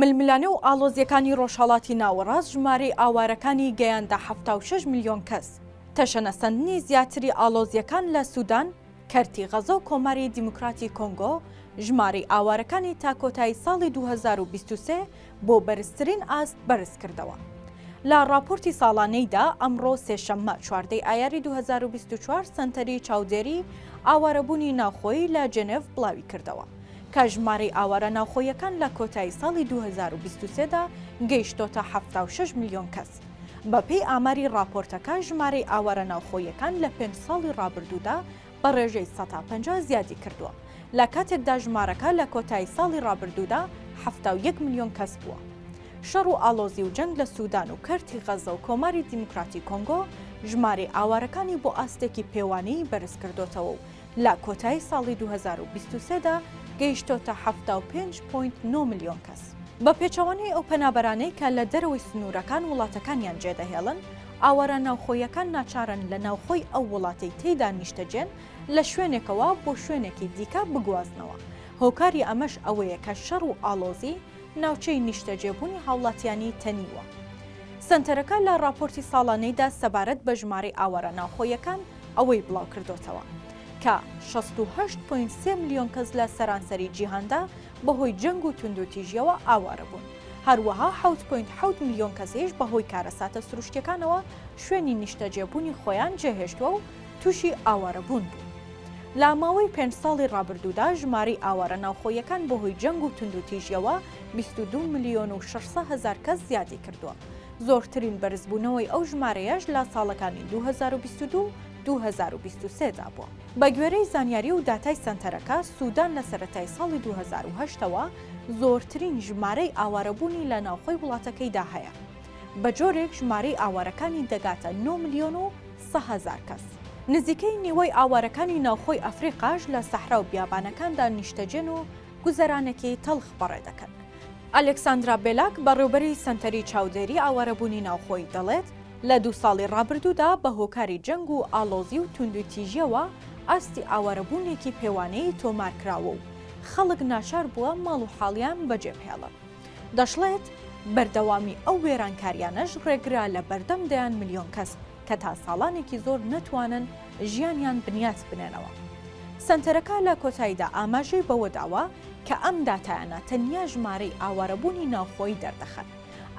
ململانێ و ئاڵۆزییەکانی ڕۆژهەڵاتی ناوەڕاست ژمارەی ئاوارەکانی گەیاندە حەفتا و شەش ملیۆن کەس، تەشەنەسەندنی زیاتری ئاڵۆزییەکان لە سودان، کەرتی غەزە و کۆماری دیموکراتی کۆنگۆ، ژمارەی ئاوارەکانی تا کۆتایی ساڵی دوو هەزار و بیست و سێ بۆ بەرزترین ئاست بەرزکردەوە. لە ڕاپۆرتی ساڵانەیدا، ئەمڕۆ سێشەممە چواردە ی ئایاری دوو هەزار و بیست و چوار سەنتەری چاودێریی ئاوارەبوونی ناوخۆیی لە جێنێڤ بڵاویکردەوە، کە ژمارەی ئاوارە ناوخۆییەکان لە کۆتایی ساڵی دوو هەزار و بیست و سێ دا گەیشتۆتە حەفتا و شەش ملیۆن کەس. بە پێی ئاماری ڕاپۆرتەکە ژمارەی ئاوارە ناوخۆییەکان لە پێنج ساڵی ڕابردوودا بە ڕێژەی سەتا پەنجا زیادی کردووە، لە کاتێکدا ژمارەکە لە کۆتایی ساڵی ڕابردوودا حەفتا و یەک ملیۆن کەس بووە. شەڕ و ئاڵۆزی و جەنگ لە سودان و کەرتی غەزە و کۆماری دیموکراتی کۆنگۆ ژمارەی ئاوارەکانی بۆ ئاستێکی پێوانەیی بەرز کردۆتەوە و لە کۆتایی ساڵی دوو هەزار و بیست و سێ دا گەیشتۆتە حەفتا و پێنج پۆینت نۆ ملیۆن کەس. بە پێچەوانەی ئەو پەنابەرانەی کە لە دەرەوەی سنوورەکان وڵاتەکانیان جێدەهێڵن، ئاوارە ناوخۆییەکان ناچارن لە ناوخۆی ئەو وڵاتەی تێیدا نیشتەجێن لە شوێنێکەوە بۆ شوێنێکی دیکە بگوازنەوە، هۆکاری ئەمەش ئەوەیە کە شەڕ و ئاڵۆزی ناوچەی نیشتەجێبوونی هاوڵاتیانی تەنیوە. سەنتەرەکە لە ڕاپۆرتی ساڵانەیدا سەبارەت بە ژمارەی ئاوارە ناوخۆییەکان، ئەوەی بڵاوکردۆتەوە کە شەست و هەشت پۆینت سێ ملیۆن کەس لە سەرانسەری جیهاندا بەهۆی جەنگ و توندوتیژیەوە ئاوارە بوون هەروەها حەوت پۆینت حەوت ملیۆن کەسیش بەهۆی کارەساتە سروشتیەکانەوە شوێنی نیشتەجێبوونی خۆیان جێهێشتووە و تووشی ئاوارەبوون بوو. لە ماوەی پێنج ساڵی ڕابردوودا ژمارەی ئاوارە ناوخۆیەکان بەهۆی جەنگ و توندوتیژیەوە بیست و دوو ملیۆن و شەش سەد هەزار کەس زیادی کردووە زۆرترین بەرزبوونەوەی ئەو ژمارەیەش لە ساڵەکانی دوو هەزار و بیست و دوو و دوو هەزار و بیست و سێ دا بووە. بەگوێرەی زانیاری و داتای سەنتەرەکە، سودان لە سەرەتای ساڵی دوو هەزار و هەشت ەوە زۆرترین ژمارەی ئاوارەبوونی لە ناوخۆی وڵاتەکەیدا هەیە، بەجۆرێک ژمارەی ئاوارەکانی دەگاتە نۆ ملیۆن و سە هەزار کەس. نزیکەی نیوەی ئاوارەکانی ناوخۆی ئەفریقاش لە سەحرا و بیابانەکاندا نیشتەجێن و گوزەرانێکی تەڵخ بەڕێ دەکەن. ئەلێکساندرا بێلاک، بەڕێوبەری سەنتەری چاودێری ئاوارەبوونی ناوخۆی دەڵێت، لە دوو ساڵی ڕابردوودا بە هۆکاری جەنگ و ئاڵۆزی و توندوتیژییەوە ئاستی ئاوارەبوونێکی پێوانەیی تۆمار کراوە و خەڵک ناچار بووە ماڵ و حاڵیان بەجێبهێڵن. دەشڵێت، بەردەوامی ئەو وێرانکارییانەش ڕێگرە لە بەردەم دەیان ملیۆن کەس. کە تا ساڵانێکی زۆر نەتوانن ژیانیان بنیات بنێنەوە. سەنتەرەکە لە کۆتاییدا ئاماژەی بەوەداوە کە ئەم داتایانە تەنیا ژمارەی ئاوارەبوونی ناوخۆیی دەردەخەن،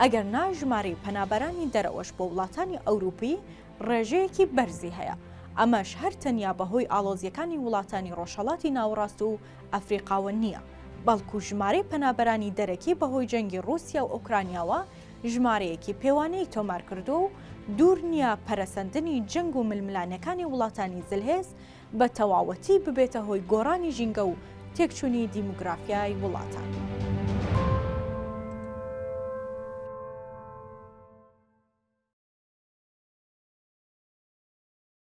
ئەگەرنا ژمارەی پەنابەرانی دەرەوەش بۆ وڵاتانی ئەوروپی ڕێژەیەکی بەرزی هەیە، ئەمەش هەر تەنیا بەهۆی ئاڵۆزییەکانی وڵاتانی ڕۆژهەڵاتی ناوەڕاست و ئەفریقاوە نییە، بەڵکو ژمارەی پەنابەرانی دەرەکی بەهۆی جەنگی ڕووسیا و ئۆکرانیاوە ژمارەیەکی پێوانەیی تۆمارکردووە و دوور نییە پەرەسەندنی جەنگ و ململانێکانی وڵاتانی زلهێز بە تەواوەتی ببێتە هۆی گۆڕانی ژینگە و تێکچوونی دیموگرافیای وڵاتان.